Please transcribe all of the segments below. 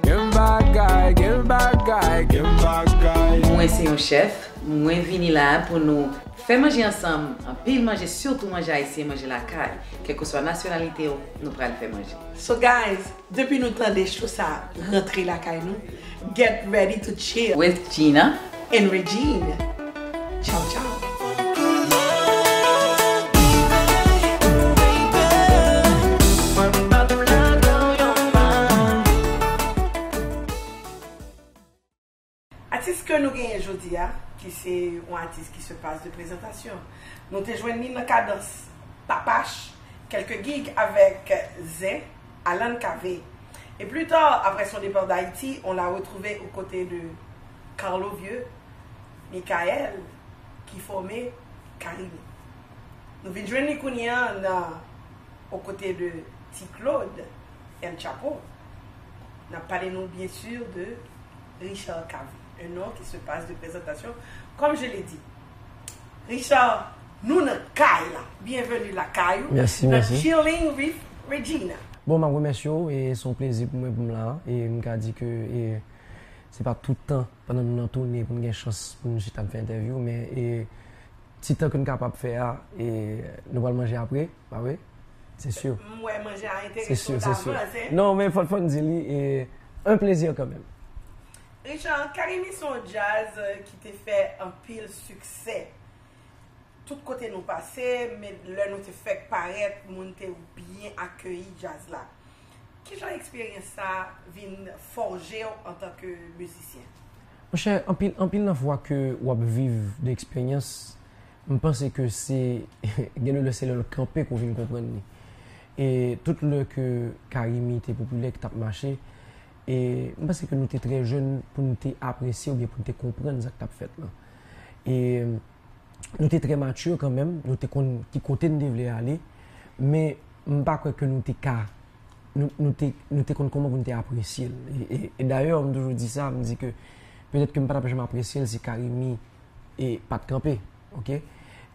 Gen bagay, gen bagay, gen bagay. Mwen se yon chèf, mwen vini la pou nou fè manje ansanm, anpil manje sitou manje ayisyen, manje lakay, kèlkeswa nasyonalite w nou pral fè manje. So guys, depi nou tande cho sa rantre lakay nou, get ready to chill. With Gina, And Regine. Chow chow. Atis ke nou genyen jodi a, ki se yon atis ki se pas de prezantasyon. Nou te jwenn li nan kadans Papach, kèlke gig avèk Zen, Alan Cavé. E pli ta, aprè son depart d'Haiti, on l'a retrouvé aux côtés de. Carlo Vieux, Michael ki fòme Carimi. Nou vin jwenn li kounye a nan aux côtés de Ti Claude, El Chapo. N ap pale nou byen sur de Richard Cavé, un nom qui se passe de présentation comme je l'ai dit. Richard, nou nan kay la! Bienvenue lakay ou, nan Chilling with Regina. Bon, m ap remèsye ou e se yon plezi pou mwen pou m la a e m ka di ke e. Se pa tout tan pandan nou nan toune pou n gen chans pou n chita ap fè entèvyou men e ti tan ke n kapab fè a e nou pral manje apre pa vre? Se sur. M wè manje a enterese w davans e. Non men fòk m di li e un plaisir kan menm. Richard, Carimi se yon djaz ki te fè anpil siksè. Tout kote nou pase, men lè nou te fèk parèt, moun te byen akeyi djaz la. Ki jan eksperyans sa a vin fòje w antanke mizisyen? Monchè, anpil anpil nan fwa ke w ap viv de eksperyans, m panse ke se gen de lè se lè l kanpe ke w vin konprann li. E tout lè ke Carimi te popilè, ki t ap mache, e m panse ke nou te trè jèn pou nou te apresye oubyen pou nou te konprann sa k t ap fèt lan. E. nou te trè mature kan menm, nou te konn ki kote nou te vle ale, men m pa kwè ke nou te ka, nou te konn kouman pou nou te apresye l. E dayè, m toujou di sa, m di ke petèt ke m pa tap janm apresye l si Carimi pat kanpe. Ok?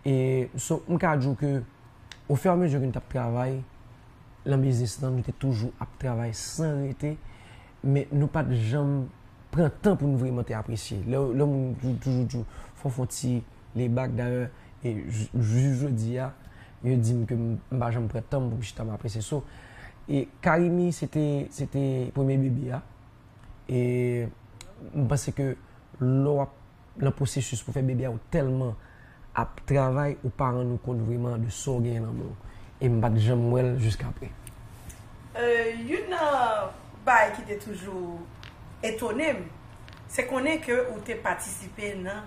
E so, m ka di w ke o fè a mezi ke nou tap travay lan biznis lan, nou te toujou ap travay san rete. men nou pa t janm pran tan pou nou vreman te apresye. Lè yon moun toujou di w, fon fon ti lebak, dayè, jis jodi a, yo di m ke m pa janm pran tan m pou m chita m apresye. So, Carimi se te, se te premye bebe a. E m panse ke lè w ap nan pwosesis pou fè bebe a ou tèlman ap travay ou pa rann ou kont vreman de sa w genyen nan men w. E m pa t janm wè l jiskapre. Youn nan bagay ki te toujou etone m, se konnen ke ou te patisipe nan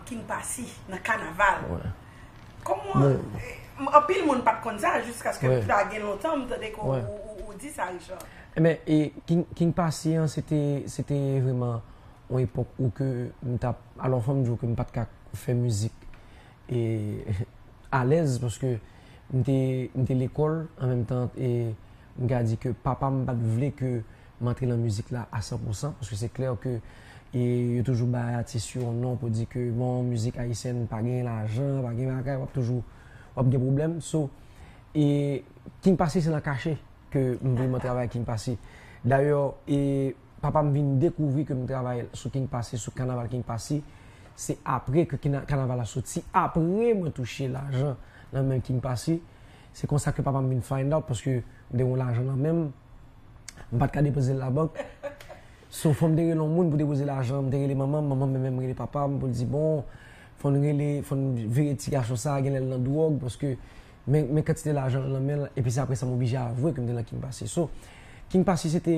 King Passy, nan kanaval. Kòman, anpil moun pa t konn sa jiskaske pa gen lontan m tande ke ou di sa Richard. Enben, King Passy an se te vreman. Yon epòk ou ke m t ap, alò fò m di w ke m pa t ka fè mizik e alèz paske m te m te lekòl an menm tan e m ka di ke papa m pa t vle ke m antre nan mizik la a san pou san paske se klè ke e yo toujou bay atis yo yon non pou di ke bon mizik ayisyèn pa gen lajan, pa gen bagay w ap toujou w ap gen pwoblèm so e King Passy se nan kache ke m vin m an travay ak King Passy dayò e. Papa m vin dekouvri ke m travay sou King Passy, sou kanaval King Passy, se apre ke kanaval la soti, apre mwen touche lajan nan men King Passy, se konsa ke papa m vin find out paske m te gen yon lajan nan men m, m pa t ka depoze l labank, so fò m te rele yon moun pou depoze lajan, m te rele manman m, manman m menm rele papa m pou l di bon, fò n rele, fò n veye ti gason sa, genlè l nan dwòg paske men kantite lajan nan men l, epi se apre sa m oblije avwe ke m te nan King Passy. So, King Passy se te.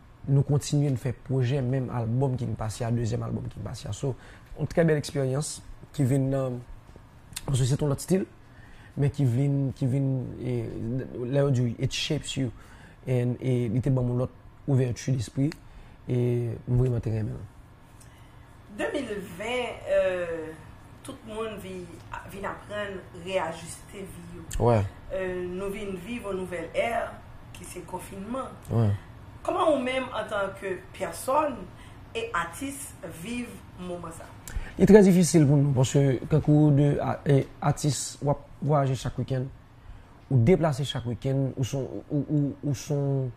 Nou kontinye n fè pwojè menm album King Passy a dezyèm album King Passy a so yon trè bèl eksperyans ki vin nan paske se t yon lòt stil men ki vin ki vin lè yo di w it shapes you and li te ban m yon lòt ouvèti despri e m vreman te renmen l. 2020 tout moun vin aprann reyajuste vi yo Nou vin viv yon nouvèl è ki se konfinman Kòman ou menm antanke pèsòn e atis viv moman sa? Li trè difisil pou nou paske tankou ou 2 atis w ap vwayaje chak wikenn ou deplase chak wikenn ou son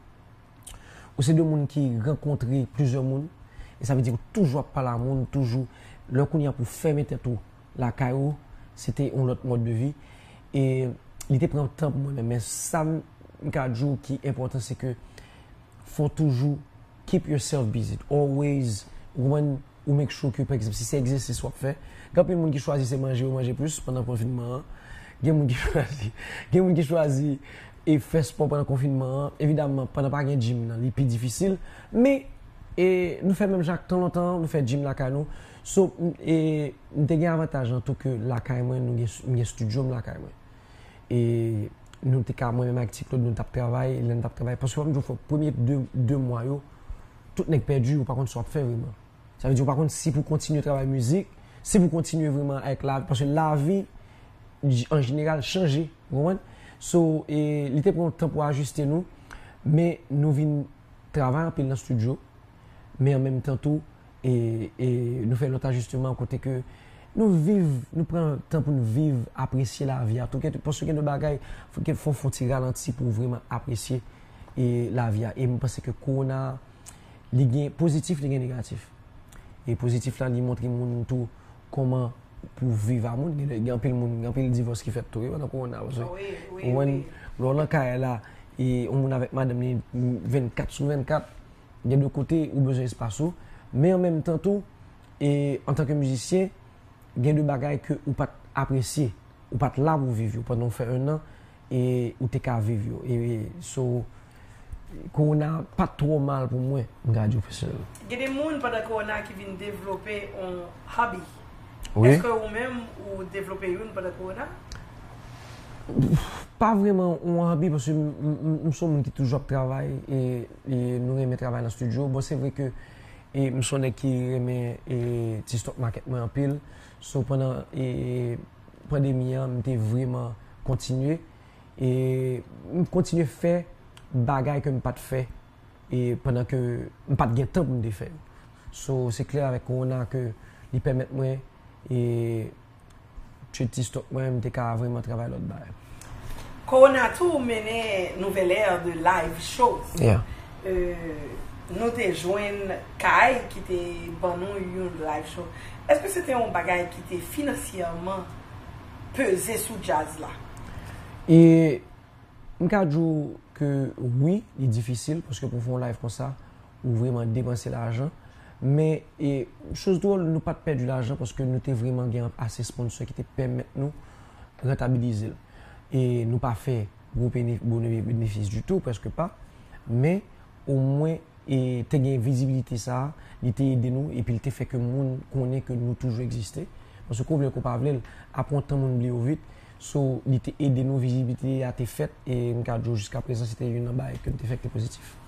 Ou se de moun ki rankontre plizyè moun, e sa vle di ou toujou ap pale a moun, ou toujou, lè w kounye a pou w fèmen tèt ou lakay ou, se te yon lòt mòd de vi. E li te pran tan pou mwen menm, men sa m ka di w ki enpòtan se ke fò w toujou keep yourself busy, always, ou konprann? Ou make sure ke pa egzanp si se egzèsis w ap fè, gen anpil moun ki chwazi se manje yo manje plis pandan konfinman an. Gen moun ki chwazi, gen moun ki chwazi e fè spò pandan konfinman an. Evidamman, pandan pa gen gym nan, li pi difisil. Men, e nou fè menm jan ak tan lontan an, nou fè gym lakay nou. So, e m te gen avantaj lan tou ke lakay mwen, nou gen, m gen studio m lakay mwen. E nou te ka, mwen menm ak Ti Claude, nou t ap travay, lè n t ap travay. Paske m di w, fò premye de, de mwa yo, Tout nèg pèdi yo pa konn sa wap fè vreman. Sa vle di yo pa konn si pou kontinye travay mizik, si pou kontinye vreman avèk lavi, paske lavi an jeneral chanje, ou konprann? So, e li te pran yon tan pou ajiste nou, men nou vin travay anpil nan stidyo, men an menm tan tou, e, e nou fè lòt ajisteman kote ke nou viv, nou pran tan pou nou viv, apresye lavi a tou, paske gen de bagay fò ou fon ti ralanti pou vreman apresye. e lavi a. E m panse ke kowona a, li gen pozitif, li gen negatif. E pozitif la, li montre moun tou kòman pou viv a moun. Gen anpil moun, gen anpil divòs ki fèt tou wi pandan kowona a. Paske, ou konprann, lè w nan kay la, e yon moun avèk madanm li 24 sou 24, gen de kote ou bezwen espas ou. Men an menm tan tou, e antanke mizisyen, gen de bagay ke ou pa t apresye. Ou pa t la pou viv yo pandan w fè ennan. e ou te ka viv yo e so kowona pat twò mal pou mwen m ka di w pèsonèlman. Gen de moun pandan kowona ki vin devlope on hobby eske ou menm ou devlope youn pandan kowona? Pa vreman on hobby paske m son moun ki toujou ap travay e nou renmen travay nan studio bon se vre ke m son nèg ki renmen ti stock market mwen anpil. So pandan pandemi an m te vreman kontinye e m kontinye fè bagay ke m pat fè e pandan ke m pat gen tan pou m te fè yo. So se klè avèk kowona ke li pèmèt mwen e tchwe ti stok mwen m te ka vreman travay lòt bagay. Kowona tou mennen nouvèl ère de live shows. Yeah. nou te jwenn kay ki te ban nou yon live show. Eske se te yon bagay ki te finansyèman peze sou djaz la? E, m ka di w ke wi, li difisil, paske pou w fè yon live konsa, ou vreman depanse lajan. Men, e, choz dwòl, nou pa t pèdi lajan paske nou te vreman gen ase sponsò ki te pèmèt nou rantabilize l. E, nou pa fè. gwo benefis ditou, prèske pa, men omwen te gen vizibilite sa a, li te ede nou epi li te fè ke moun konnen ke nou toujou egziste. Paske ke w vle ke w pa vle l, apre yon tan moun bliye w vit. So, li te ede nou, vizibilite a te fèt e m ka di w jiskaprezan se te youn nan bagay ke m te fè ki te pozitif.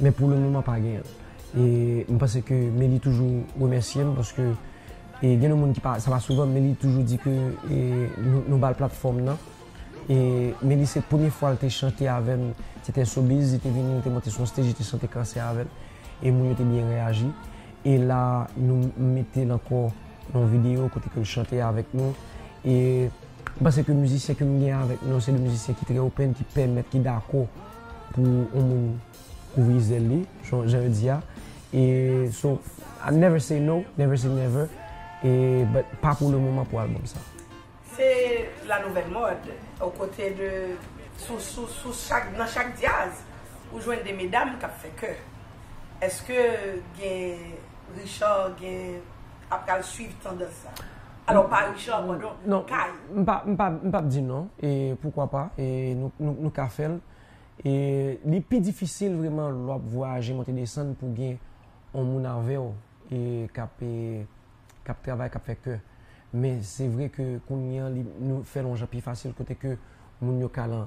Men pou le moman pa genyen. E m panse ke Meli toujou remèsye m paske e gen yon moun ki pa, sa pa souvan Meli toujou di ke e nou ba l platfòm nan. E Meli se premye fwa l te chante avè m, se te Sobiz, li te vini, li te monte sou yon stage, li te chante Kansè avè m. E moun yo te byen reyaji. E la nou mete l ankò nan yon videyo kote ke l chante avèk nou. E m panse ke mizisyen ke m gen avèk mwen yo se de mizisyen ki trè open, ki pèmèt, ki dakò. pou yon moun kouvri zèl li jan yo di a e so I never say no never say never e but pa pou le moman pou album sa. Se la nouvèl mòd o kote de sou sou sou chak nan chak dyaz ou jwenn de medam kap fè kè eske gen Richard gen ap pral swiv tandans sa? Alò Paris Charbon non, kay. M pap di non, e poukwa pa, e nou ka fè l. E li pi difisil vreman lè w ap vwayaje monte desann pou gen yon moun avè w e k ap travay, k ap fè kè. Men se vre ke kounye an li fè l yon jan pi fasil kote ke moun yo ka lan.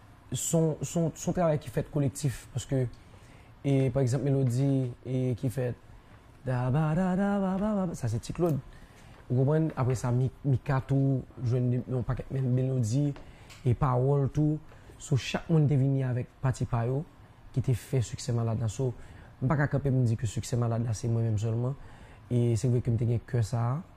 son travay ki fèt kolektif paske e pa egzanp melodi e ki fèt dabadadabababa sa se ti klod ou konprann apre sa mika tou jwenn yon pakèt menm melodi e pawòl tou so chak moun te vini avèk pati pa yo ki te fè siksè malad la so m pa ka kanpe m di ke siksè malad la se mwen menm sèlman e se vre ke m te gen kè sa a.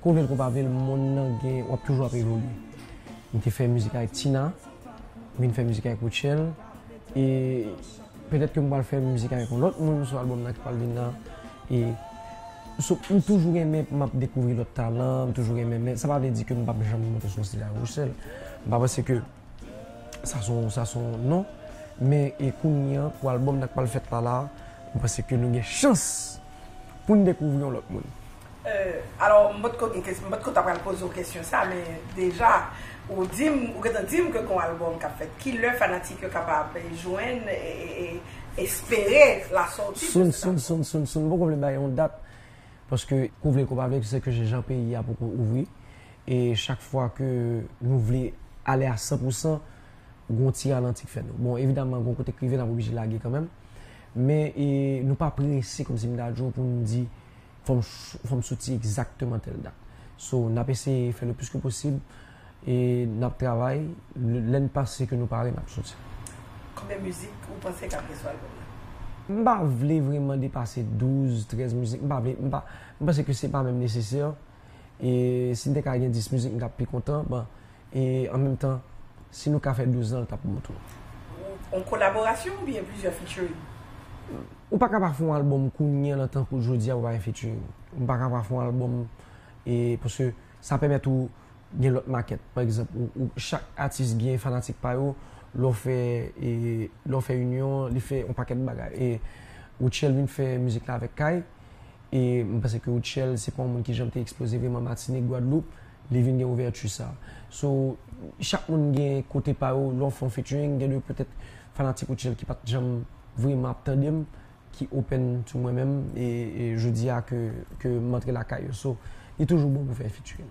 Ke w vle l ke w pa vle l monn nan gen, w ap toujou ap evolye. M te fè mizik avèk Tina, m vin fè mizik avèk Rutshelle e petèt ke m pral fè mizik avèk yon lòt moun sou albòm nan ki pral vin nan e So m toujou renmen m ap dekouvri lòt talan, m toujou renmen men sa pa vle di ke m p ap janm monte sou yon stij avèk Rutshelle. M pa panse ke sa se yon, sa se yon non men e kounye an pou albòm nan k pral fèt la la a, m panse ke nou gen chans pou n dekouvri yon lòt moun. Alò, m pa t ko gen kesyon, m pa t ko ta pral poze w kesyon sa, men deja ou di m, ou gentan di m ke gon albòm k ap fèt. Ki lè fanatik yo kapab jwenn e espere lasòti de cet album? Sun, sun, sun, m poko vle bay yon dat, paske ke w vle ke w pa vle, se ke jan peyi a poko ouvri, e chak fwa ke nou vle ale a san pou san, gon ti ralanti k fè nou. Bon, evidaman gon kote k rive n ap oblije lage kanmenm, men nou pa prese kòmsi m ta di w pou m di. Fò m soti egzakteman tèl dat. So, n ap eseye fè le plis ke posib e n ap travay. Lè n panse ke nou pare, n ap soti. Konbyen mizik ou panse k ap gen sou albòm nan? M pa vle vreman depase douz, trèz mizik. M pa vle. M panse ke se pa menm nesesè. E si m te ka gen dis mizik, m ta pi kontan. E an menm tan, si nou ka fè 12 zan l t ap bon tou. Yon kolaborasyon oubyen plizyè featuring? Ou pa ka pa fè yon album kounye lan tankou jodi a pou pa gen featuring. Ou pa ka pa fè yon album e paske sa pèmèt ou gen lòt makèt. Pa egzanp, ou chak atis gen fanatik pa yo, lè w fè e lè w fè inyon li fè yon pakèt bagay e Rutshelle vin fè mizik la avèk Kay. E m panse ke Rutshelle se pa yon moun ki janm te eksploze vreman Matinik, Gwadloup, li vin gen ouvèti sa. So, chak moun gen kote pa yo, lè w fè yon featuring, gen de petèt fanatik Rutshelle ki pa t janm vreman ap tande m, ki open to mwen menm, e jodi a ke m antre lakay yo. So, li toujou bon pou fè featuring.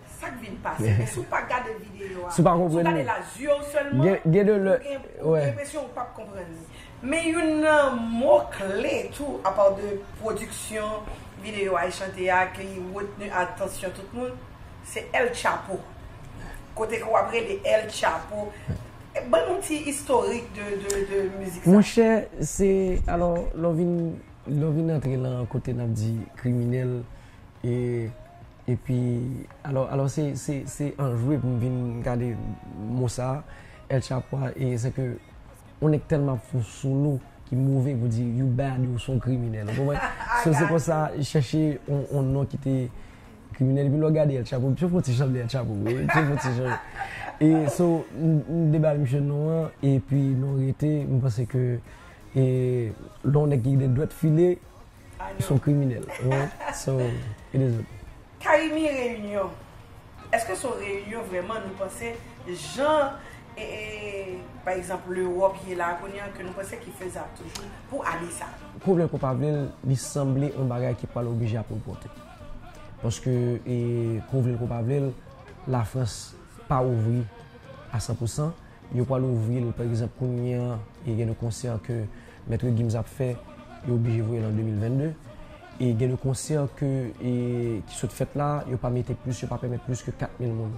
Sak vin pase men si w pa gade videyo a, si w gade l a zye w sèlman, ou gen enpresyon ou pap konprann li. Men youn nan mo kle tou apaw de pwodiksyon videyo a e chante a ki retni atansyon tout moun, se El Chapo. Kote ke w ap rele El Chapo. Ban nou ti istorik de mizik sa. Monchè, se alò lè w vin antre lan kote n ap di kriminèl e. Epi alò alò se se se anjwe pou m vin gade mo sa a El Chapo a e se ke yon nèg tèlman ap fè yon solo ki move pou di you bad ou se yon kriminèl ou konprann so se konsa chèche yon yon non ki te kriminèl epi lè w gade El Chapo misye fon ti jan vle El Chapo vre wi misye fon ti jan e so m te bay misye non an epi nou rete m panse ke e lè yon nèg ki gen dwèt file Son kriminel so it is ok. Carimi reunion eske son reunion vreman nou panse jan pa egzanp l'europe ye la kounye an ke nou panse ki fezab toujou pou ane sa. Ke w vle l ke w pa vle l li sanble yon bagay ki pral oblije ap repòte paske ke w vle l ke w pa vle l la frans pa ouvri a san pou san Yo pral ouvri l, pa egzanp, kounye an, e gen de konsè ke Maitre Gims ap fè, yo oblije voye l an 2022. E gen de konsè ke e ki sot fèt la, yo pa mete plis, yo pa pèmèt plis ke 4,000 moun.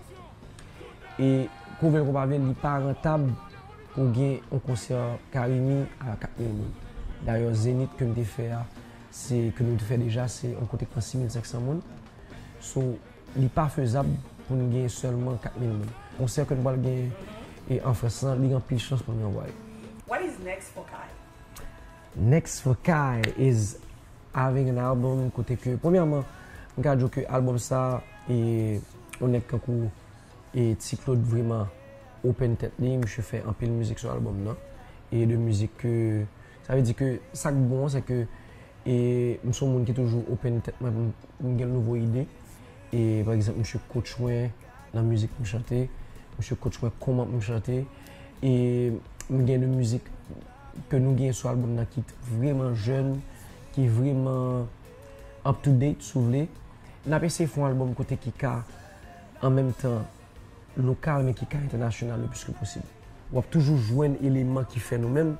E kou vle l kou pa vle l, li pa rantab pou gen yon konsè Carimi a 4,000 moun. Dayè, Zenith ke m te fè a, se ke nou te fè deja, se yon kote k pran 6,500 moun. So. Li pa fezab pou n gen sèlman 4,000 moun. Konsè ke n pral gen an Frans lan, li gen anpil chans pou n gen Way. What is next for Kay? Next for Kay is having an album kote ke premyèman m ka di w ke album sa e yon nèg tankou e Ti Claude vreman open tèt li, misye fè anpil mizik sou album nan e de mizik ke Sa vle di ke sa k bon an se ke e m se yon moun ki toujou open tèt mwen pou m gen nouvo ide. E pa egzanp misye coach mwen nan mizik pou m chante, misye coach mwen kòman pou m chante. E m gen de mizik ke nou gen sou albòm nan ki vreman jèn, ki vreman up to date si w vle. N ap eseye fè yon albòm kote ki ka an menm tan. lokal men ki ka entènasyonal le plis ke posib. W ap toujou jwenn eleman ki fè nou menm,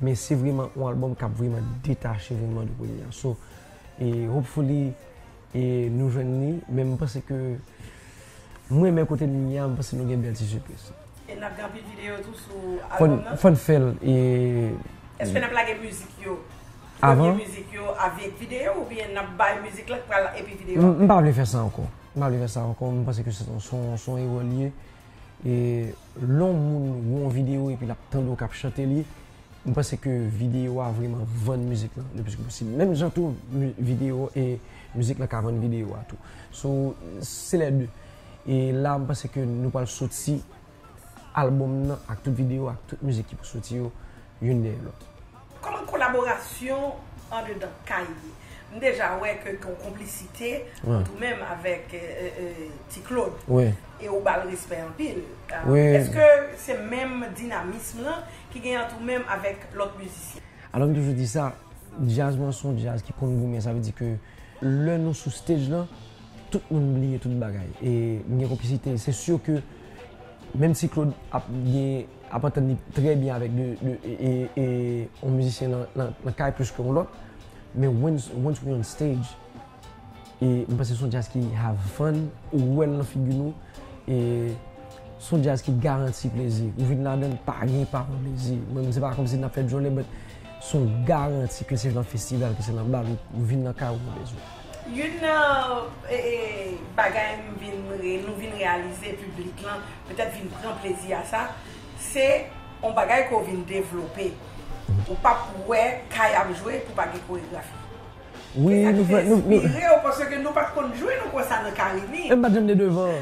men se vreman yon albòm k ap vreman detache vreman de premye a. So, e hopefully e nou jwenn li, men m panse ke m renmen kote m ye a, m panse nou gen bèl ti sipriz. E n ap gen anpil videyo tou sou albòm nan? Fò n fè l e. Eske n ap lage mizik yo, premye mizik yo avèk videyo oubyen n ap bay mizik la k pral epi videyo apre? M pa vle fè sa ankò. M pa vle fè sa ankò, m panse ke se yon erè li ye. E lè yon moun wè yon videyo epi l ap tande w k ap chante li, m panse ke videyo a vreman vann mizik lan le plis ke posib. Menm jan tou videyo e mizik lan ka vann videyo a tou. So, se lè de. E la m panse ke nou pral soti. Album nan ak tout video ak tout mizik ki pou soti yo youn dèyè lòt. Kòman kolaborasyon andedan kay ye? M deja wè ke gen yon konplisite ant ou menm avèk Ti Klod e ou ba l respè anpil. Eske se menm dinamism lan ki gen ant ou menm avèk lòt mizisyen? Alò m toujou di sa, djaz mwen se yon djaz ki konn goumen. Sa vle di ke lè nou sou stage lan. Tout moun bliye tout bagay e m gen konplisite. Se sur ke menm si Claude ap gen, ap antann li trè byen avèk 2 e yon mizisyen nan kay plis ke yon lòt, men once once we on stage e m panse son jazz ki have fun, ou wè l nan figi nou e son jazz ki garanti plezi. Ou vin ladan l pa gen pa pran plezi. Menm se pa kòm si n ap fè djòlè but son garanti ke se nan festival, ke se nan bal ou vin nan kay ou pran plezi w. Youn nan bagay m vin, nou vin reyalize, piblik lan petèt vin pran plezi a sa, se yon bagay ke w vin devlope. Ou pap wè kay ap jwe pou pa gen koregrafi. Se sa k vin enspire w paske nou pat konn jwe nou konsa nan Carimi. Men m pat janm de devan.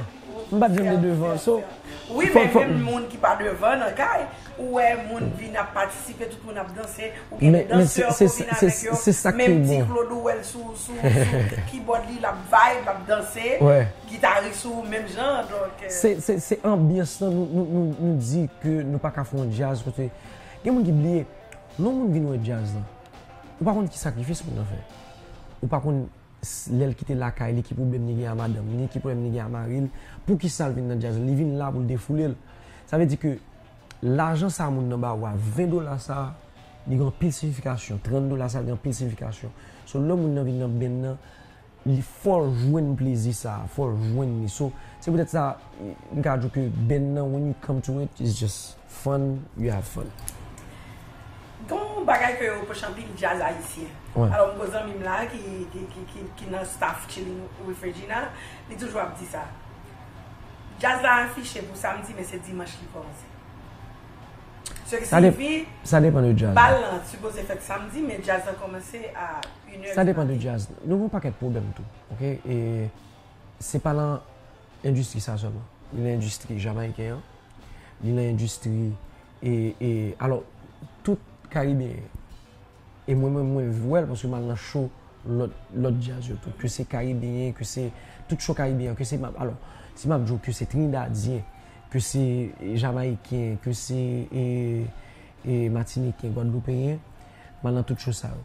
M pat janm de devan. So, fòk. Wi men menm moun ki pa devan nan kay, Ou wè moun vin ap patisipe tout moun ap danse ou gen de danseur ko vin avek yo menm ti Claude ou wèl sou kibòd li lap vibe lap danse gitaris ou menm jan donk. Se anbyans lan nou di ke nou paka fè yon jazz kote gen moun ki bliye lè yon moun vin wè jazz lan ou pa konn ki sakrifis moun nan fè ou pa konn. lè l kite lakay li ki pwoblèm li gen a madanm li, ki pwoblèm li gen a mari l, poukisa l vin nan djaz la, li vin la pou l defoule l. Sa vle di ke lajan sa moun nan ba ou a, 20 dola sa li gen anpil siyifikasyon, 30 dola sa gen anpil siyifikasyon. So lè moun nan vin nan benn nan, li fò l jwenn plezi sa, fò l jwenn li. So se poutèt sa m ka di w ke benn nan when you come to it is just. Fun you have fun. Gon bagay ke yo reproche anpil jazz ayisyen. Alò m gon zanmi m la ki nan staff Chilling with Regina, li toujou ap di sa. Jazz la afiche pou samdi men se dimanch li kòmanse. Se ki siyifi bal lan sipoze fèt samdi men jazz lan kòmanse a inè di maten. Sa depan de jazz. Nou gon pakèt pwoblèm tou. Ok e se pa lan Endistri sa sèlman. Li nan endistri jamayiken an, li nan endistri e, e, alò, tout karibeyen yo. E mwen menm mwen vwè l paske m al nan show lòt, lòt djaz yo tou. Ke se karibeyen, ke se tout show karibeyen an, ke se m ap, alò, si m ap di w ke se trinidadyen, ke se jamayiken, ke se e, e matiniken, gwadloupeyen, m al nan tout show sa yo.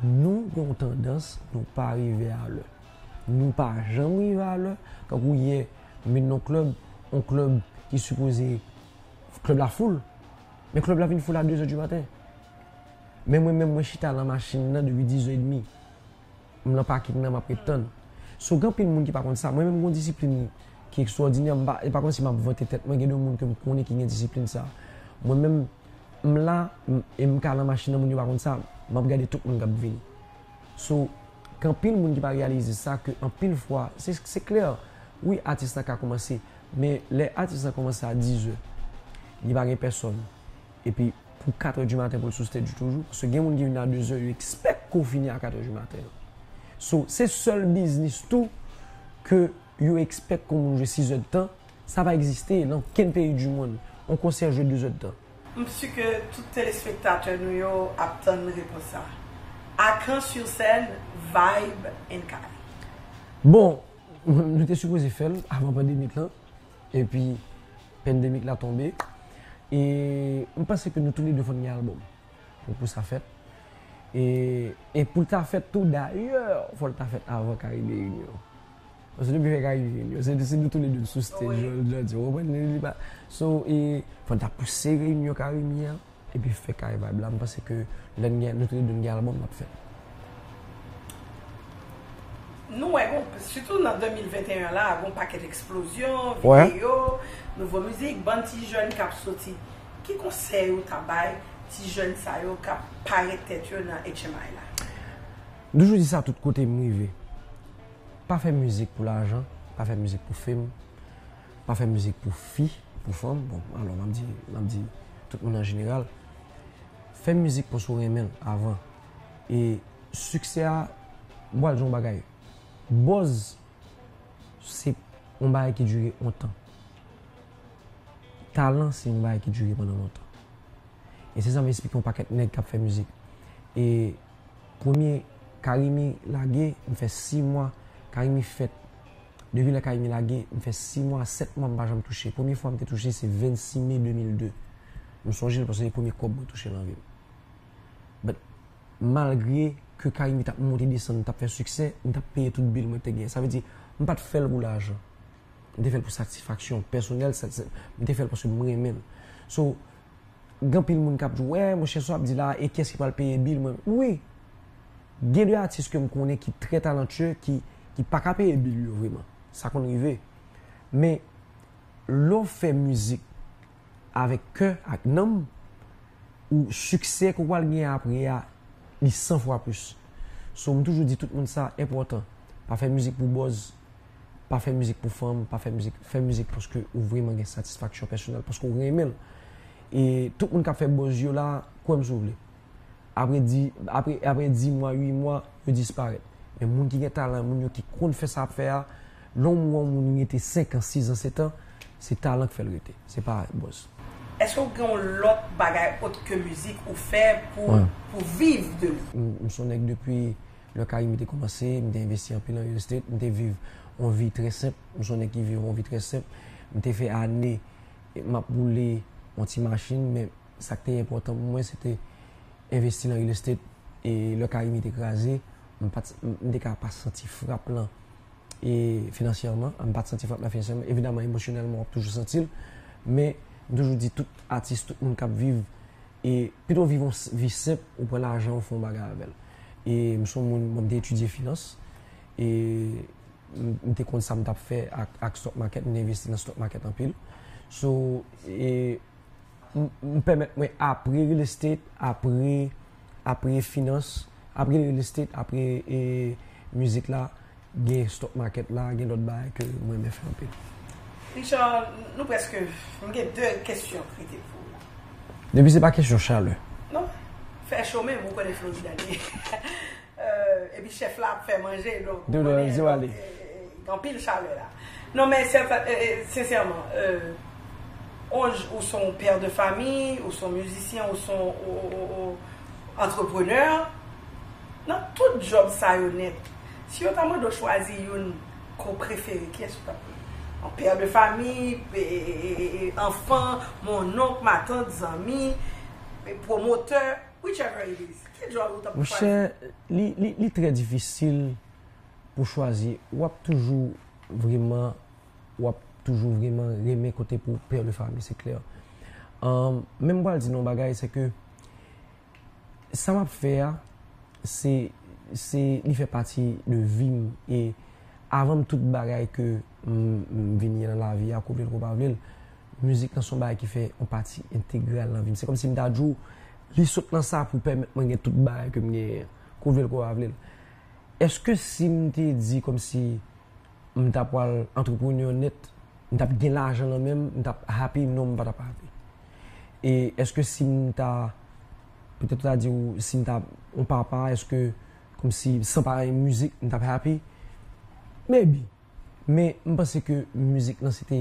Nou gen yon tandans nou pa rive a lè. Nou pa janm rive a lè. Tankou yè, m vin nan yon klèb, yon klèb ki sipoze klèb la foul, men klèb la vin foul a dezè di maten. Men mwen menm mwen chita nan machin nan depi dizè edmi. M nan pakin nan m ap ret tann. So gen anpil moun ki pa konn sa. Mwen menm m gen yon disiplin ki ekstwòdinè. M pa, e pa kòmsi m ap vante tèt mwen. Gen de moun ke m konnen ki gen disiplin sa. Mwen menm, m la e m ka nan machin nan moun yo pa konn sa. M ap gade tout moun k ap vini. So gen anpil moun ki pa reyalize sa ke anpil fwa se klè wi atis la ka koumanse men lè atis la koumanse a dizè li pa gen pèsòn epi pou katrè di maten pou l sou stèj li toujou paske gen moun ki vin a dezè yo ekspèk ke w fini a katrè di maten so se sèl biznis tou ke yo ekspèk kon moun jwe 6 zè de tan, sa pa egziste nan okenn peyi du mond, on konsè jwe 2 zè de tan. M su ke tout telespektatè nou yo ap tann repons sa. A Caen sur Seine, vibe and kay. Bon, nou te sipoze fè l avan pandemik lan, epi pandemik la tonbe, e m panse ke nou tou le 2 fòn gen albòm pou pou sa fèt, e pou l ta fèt tou dayè fò l ta fèt avan Caribe Union. Paske depi fèk arive m yo se nou tou le 2 n sou stage yo l janti ou konprann li li pa so e fòn ta pouse reyinyon carimi an epi fè kare vibe la m panse ke lè n gen nou tou le 2 n gen album nap fè. Nou wè gon sitou nan 2021 la gon pakèt eksplozyon videyo nouvo mizik bann ti jèn kap soti ki konsèy ou ta bay ti jèn sa yo kap parèt tèt yo nan HMI la? M toujou di sa tout kote m rive. Pa fè mizik pou lajan, pa fè mizik pou fame, pa fè mizik pou fi, pou fanm, bon alò map di, map di tout moun an jeneral, fè mizik paske ou renmen l avan e siksè a bwal son bagay, buzz se yon bagay ki dire yon tan, talan se yon bagay ki dire pandan lontan e se sa m esplike yon pakèt nèg kap fè mizik e. Premye Carimi lage m fè 6 mwa Carimi fèt Depi lè Carimi lage m fè 6 mwa a 7 mwa m pa janm touche Premye fwa m te touche se 26 me 2002 M sonje l paske se premye kòb mwen touche nan vi m But malgre ke Carimi t ap monte desann m t ap fè siksè m t ap peye tout bil mwen te gen Sa vle di m pa t fè l pou lajan M te fè l pou satisfaksyon pèsonèl M te fè l paske m renmen l So Gen anpil moun kap di wè monchè sa w ap di la e kiyès ki pral peye bil mwen wi gen de atis ke m konnen ki trè talantye ki ki pa ka peye bil yo vreman sa konn rive men lè w fè mizik avèk kè ak nanm ou siksè ke w pral gen apre a li san fwa plis so m toujou di tout moun sa enpòtan pa fè mizik pou bòz. Pa fè mizik pou fanm, pa fè mizik, fè mizik paske ou vreman gen satisfaksyon pèsonèl, paske ou renmen l. E tout moun k ap fè buzz yo la, kwè m si w vle, apre di, apre, apre di mwa, ui mwa, yo disparèt. Men moun ki gen talan, moun yo ki konn fè sa y ap fè a, lè w wè yon moun rete senkan, sizan, setan, se talan k fè l rete, se pa buzz. Eske w gen yon lòt bagay ot ke mizik ou fè pou, pou viv de li? M m s on nèg depi. Lè kay mi te kòmanse, m te envesti anpil nan real estate. M te viv yon vi trè senp. M se yon nèg ki viv yon vi trè senp. M te fè ane m ap woule yon ti machin, men sa k te enpòtan pou mwen se te envesti nan real estate. E lè kay mi te kraze, m pa t, m te ka pa santi frap lan e finansyèman. M pa t santi frap lan finansyèman. Evidaman emosyonèlman w ap toujou santi l. Men m toujou di tout atis, tout moun k ap viv E pito viv yon vi senp, ou pran lajan ou fè yon bagay avè l. E m son moun, bon m te etidye finans. E m te konn sa m t ap fè ak stock market, m te envesti nan stock market anpil. So, e m pèmèt mwen apre real estate, apre finans, apre real estate, apre e mizik la, Gen stock market la, gen lòt bagay ke m renmen fè anpil. Richard, nou prèske, m gen 2 kesyon k rete pou ou la. Depi se pa kesyon chalè. Non, fè cho menm, ou konnen Florida li ye. Epi chèf la ap fè manje, donk ou konnen gen anpil chalè la. Non men sensèman, ou son père de famille, ou son musicien, ou son entrepreneur, nan tout job sa yo nèt, Si yo ta mande w chwazi youn ke w prefere, kiyès ou t ap pran? Yon père de famille, anfan, monnonk, matant, zanmi, pwomotè, whichever it is. Ki djòl ou t ap chwazi? Monchè, li trè difisil pou chwazi. W ap toujou vreman, w ap toujou vreman renmen kote pou père de famille, se klè. Men m pral di nou yon bagay, se ke. Sa map fè a se se li fè pati de vim e avanm tout bagay ke m vin ye nan lavi a kou vle l kou pa vle l mizik lan son bagay ki fè yon pati entegral nan vim se kòmsi m ta di w li sot nan sa pou pèmèt mwen gen tout bagay ke m genyen an kou vle l kou pa vle l eske si m te di kòmsi M ta pwal entrepreneur net, m tap gen lajan nan menm, m tap happy non m pa tap happy. E eske sim ta petèt ou ta di ou sim ta yon papa eske komsi san pa yon mizik m tap happy? Maybe men m panse ke mizik lan se te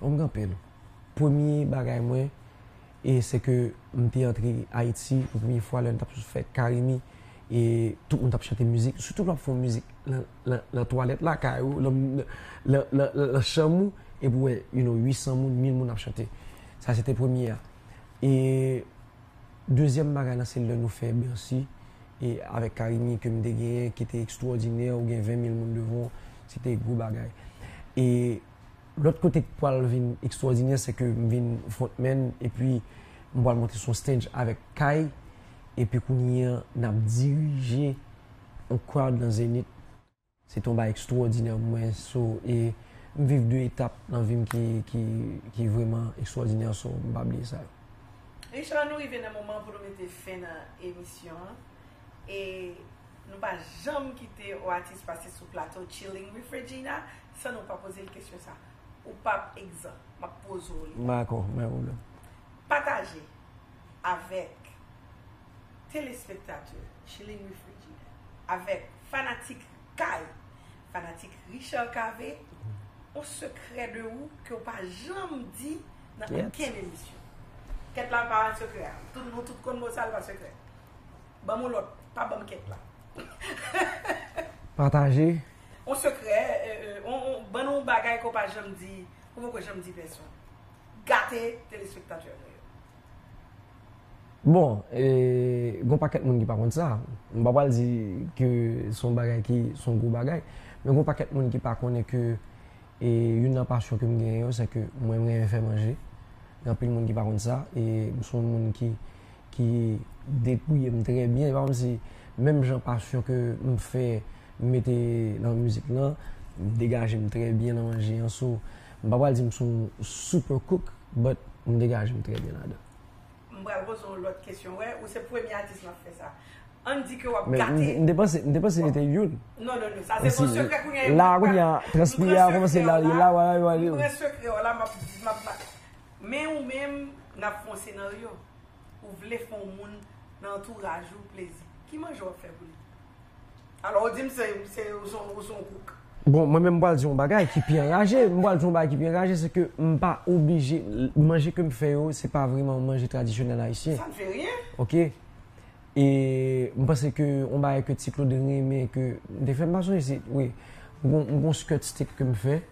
Ou bgy anpil. Premye bagay mwen e se ke m te antre Ayiti pou premye fwa lè n t ap sou fèt Carimi e tout moun t ap chante mizik. Sitou lè w ap fè yon mizik nan twalèt lakay ou, nan chanm ou epi ou wè you no 800 moun, 1000 moun ap chante. Sa se te premye a. E dezyèm bagay la se lè nou fè Bercy e avèk Carimi ke m te genyen ki te ekstwòdinè, ou gen 20 mil moun devan w, se te gwo bagay. E Lòt kote k pwal vin ekstwòdinè se ke m vin frontman epi m pwal monte sou yon stage avèk Kay epi kounye an n ap dirije yon crowd nan Zenith se te yon bagay ekstwòdinè pou mwen so e m viv 2 etap nan vi m ki vrèman ekstwòdinè so m pa bliye sa yo. Richard nou rive nan moman pou nou mete fen nan emisyon an e nou pa janm kite ou atis pase sou plato Chilling with Regina San nou pa poze l kesyon sa. Ou pa p egzan. M ap poze w li. M dakò. M bay pwoblèm. Pataje avèk telespektatè Chilin Wi Frijidè, avèk fanatik kay, fanatik Richard Cavé, yon sekrè de ou ke ou pa janm di nan okenn emisyon. Kèt la pa sekrè a. Nou tout konn bon sa l pa sekrè. Banm on lot pa banm ket la. Pataje. On sekrè on bann on bagay ke w pa janm di ou poko janm di pèsonn. Gate telespektatè nou yo. Bon gon pakèt moun ki pa konn sa. M pa pral di ke son bagay ki son gwo bagay. Men gon pakèt moun ki pa konnen ke youn nan pasyon ke m genyen yo se ke mwen renmen fè manje. Gen anpil moun ki pa konn sa. E m son moun ki ki degouye m trè byen. Se pa kòmsi menm jan pasyon ke m fè m mete nan mizik lan, m degaje m trè byen nan manje an. So, m pa pral di m se yon super cook but m degaje m trè byen ladan. M pral poze w lòt kesyon. Wè, ou se premye atis m ap fè sa. Ann di ke w ap gate. Men, m te panse, m te panse li te youn. Non, non, non. Sa se son sekrè kounye a. La a kounye a, transpire a kòmanse la. M pran sekrè w la, m ap, m ap, m ap. Men ou menm n ap fon senaryo, ou vle fon moun nan antouraj ou plezi. Ki manje w ap fè pou li? Alò ou di m se ou se yon kouk. Bon, mwen menm m pral di w yon bagay ki pi anraje. M pral di w yon bagay ki pi anraje, se ke m pa oblije, manje ke m fè yo, se pa vreman manje tradisyonèl ayisyen. Sa n fè ryen. Ok. E m panse ke yon bagay ke Ti Klod renmen ke m te fè, m pa sonje si, wi. M gen yon skirt steak ke m fè.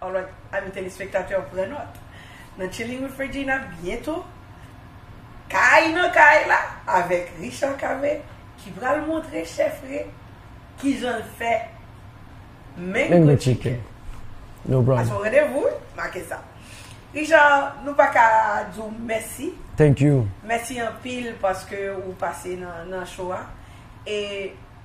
Alright ami telespektatè pran nòt nan Chilling with Regina byento Kaï nan kay la avèk Richard Cavé ki pral montre chèf Ree kijan l fè Mango Chicken No problem Ason randevou wi make sa Richard nou pa ka di w mèsi Thank you Mèsi anpil paske ou pase nan show a e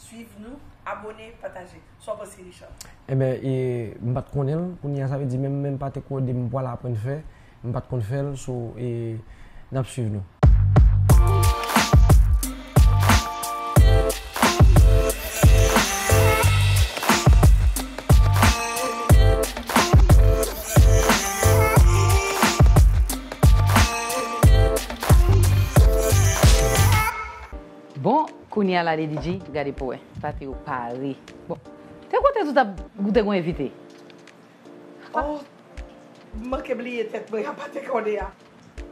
Swiv nou, abone, pataje. Sa w panse Richard? Enben e m pat konnen l kounya sa vle di menm menm pate kode m pwal aprann fè m pat konn fè l so e nap swiv nou. Bon kounya lady DG gade pou wè. Pati yo pare bon te kote tout ap ou te gon evite oh m manke bliye tèt mwen a pate kòde a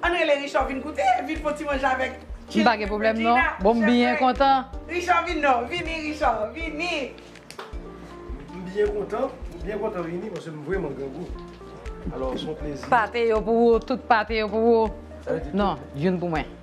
ann rele Richard vin goute vin fon ti manje avèk m pa gen pwoblèm non bon m byen kontan Richard vin non vini Richard vini m byen kontan m byen kontan vini paske m vrèman grangou alò son plezi pate yo pou ou tout pate yo pou ou non youn pou mwen.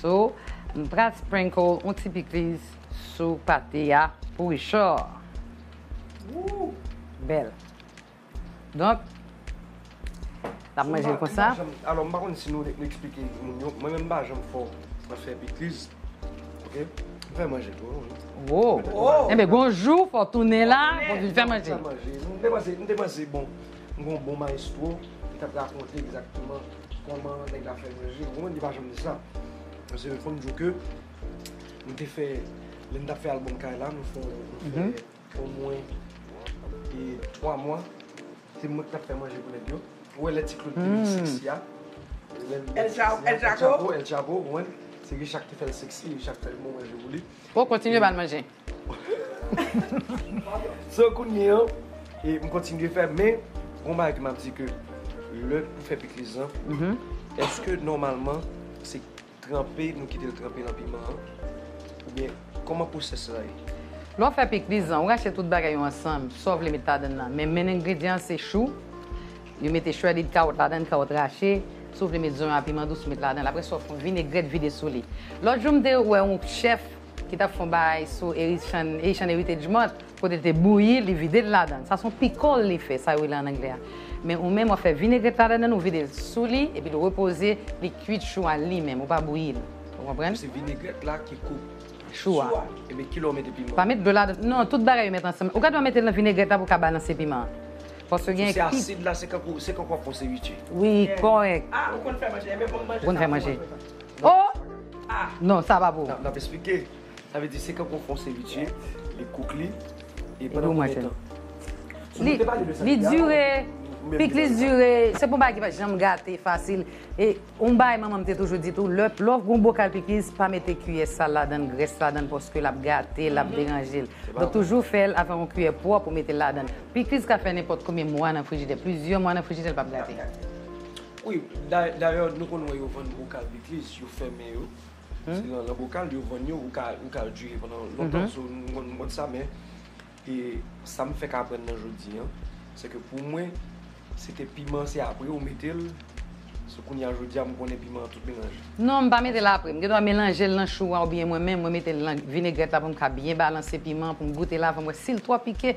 So m pral sprinkle on ti pikliz sou pate a pou richor. Ooh bel. Donk n ap manje l konsa. Alò m pa konn si nou esplike moun yo, mwen menm m pa janm fò nan fè pikliz ok m fè manje tou wi. Ooh enben gon jou fò tounen la pou vin fè manje. M te panse bon m gen yon bon maestro ki tap rakonte egzakteman. Koman nèg la fè manje ou konprann li pa janm di sa paske fòm diw ke nou te fè lè nou tap fè album kay la nou fè omwen 3 mwa se mwen ki tap fè manje pou nèg yo ou wè lè ti Claude te vin sexy a El Chapo ou konprann se Richard ki te fèl sexy Richard ki te fè manje pou li. Bon kontinye bal manje. So kounye an, m kontinye fè men gon bagay ki map di ke lè ou fè pikliz lan, eske nòmalman se tranpe nou kitel tranpe nan piman an oubyen kòman pwosès la ye? Lè w fè pikliz lan, ou rache tout bagay yo ansanm sa w vle met ladann lan, men menn engredyan an se chou, yo mete shredded kawòt ladann, kawòt rache, si w vle met zonyon a piman dous ou met ladann, apresa w fon vinegrèt vide sou li. Lòt jou m te wè yon chèf ki t ap fè yon bagay sou Haitian Heritage Month, kote l te bouyi li vide l ladan l, sa se yon pikòl li fè, sa yo rele an anglè a, men ou menm w ap fè vinegrèt ladan l ou vide l sou li epi l repoze li kuit chou a li menm ou pa bouyi l ou konprann? Donk se vinegrèt la ki kout chou a epi kilè w mete piman an? Pa met dlo ladan l non tout bagay yo met ansanm ou ka dwa mete l nan vinegrèt la pou w ka balanse piman an paske gen ki. Sou se asid la se kankou se kankou w ap fè yon seviche? Wi kòrèk. Ah ou konn fè manje, enben banm manje sa pou mwen. Oh ah non sa pa pou. Nap esplike sa vle di se kankou fon seviche li kouk li e pandan konbyen tan. Sou nou te pale de sa deja. Li dure pik li dure se pou bagay ki pa janm gate fasil e yon bagay manmanm te toujou di tou lè lè gon bokal pikiz pa mete kiyè sal ladann grès ladann paske lap gate lap deranjel donk toujou fèl avèk yon kiyè pwòp ou metel ladann pikiz ka fè nenpòt konbyen mwa nan frijidè plizyè mwa nan frijidè li pap gate. Wi, dayè nou konn wè yo vann bokal pikliz, yo fèmen yo, se nan bokal yo vann yo, ou ka dire pandan lontan, so m konn sa men sa m fèk aprann nan jodi an, se ke pou mwen se te piman se apre ou mete l, so kounye a jodi a m konnen piman an tout melanje. Non, m pa mete l apre, m gen dwa melanje l nan chou a oubyen mwen menm mwen mete l nan vinegrèt la pou m ka byen balanse piman an pou m goute l avan m wè si l twò pike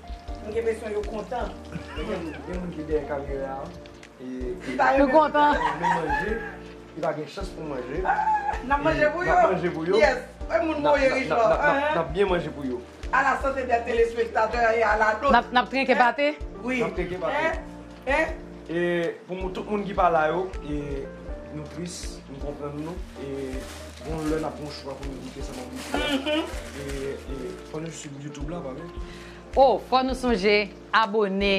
M gen presyon yo kontan. Gen moun ki dèyè kamera an ki pa renmen manje, ki pa gen chans pou manje. N ap manje pou yo. N ap manje pou yo. N ap byen manje pou yo. A la sante dè telespektatè e a la nôt. N ap trinke pate. N ap trinke pate. E pou moun tout moun ki pa la yo e nou tris nou konprann nou e gon lè nap gon chwa pou nou di kisa nap di e fò nou swiv youtube la pa bliye. O fò nou sonje abone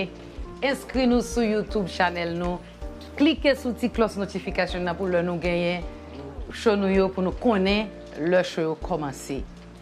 enskri nou sou youtube chanèl nou klike sou ti klòs notification nan pou lè nou genyen show nou yo pou nou konnen lè show yo kòmanse.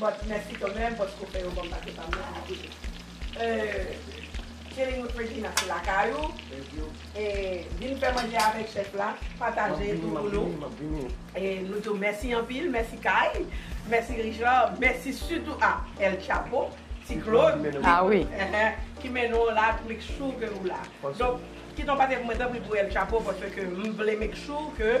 But mèsi kanmèm paske ou fè yo banm pase pam nan pou mete euh chilling with Regina se lakay ou e vin fè manje avèk chèf la pataje tou pou nou e nou di w mèsi anpil mèsi Kay mèsi Richard mèsi sitou a El Chapo ti Claude ki mennen w la pou make sure ke ou la donk kite yon pati pou mwen tanpri pou El Chapo paske m vle make sure ke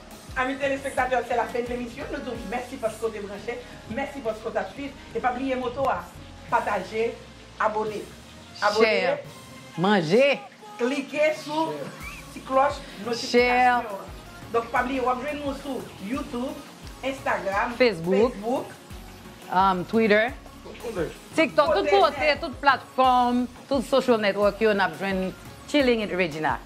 Ami telespektatè se la fen de emisyon nou di w mèsi paske w te branche, mèsi paske w tap swiv e pa bliye moto a pataje, abone, abone, klike sou ti klòch notifikasyon an donk pa bliye wap jwenn nou sou youtube, instagram, facebook, twitter, tiktok tout kote tout platfòm tout social network yo nap jwenn Chillingwithregina.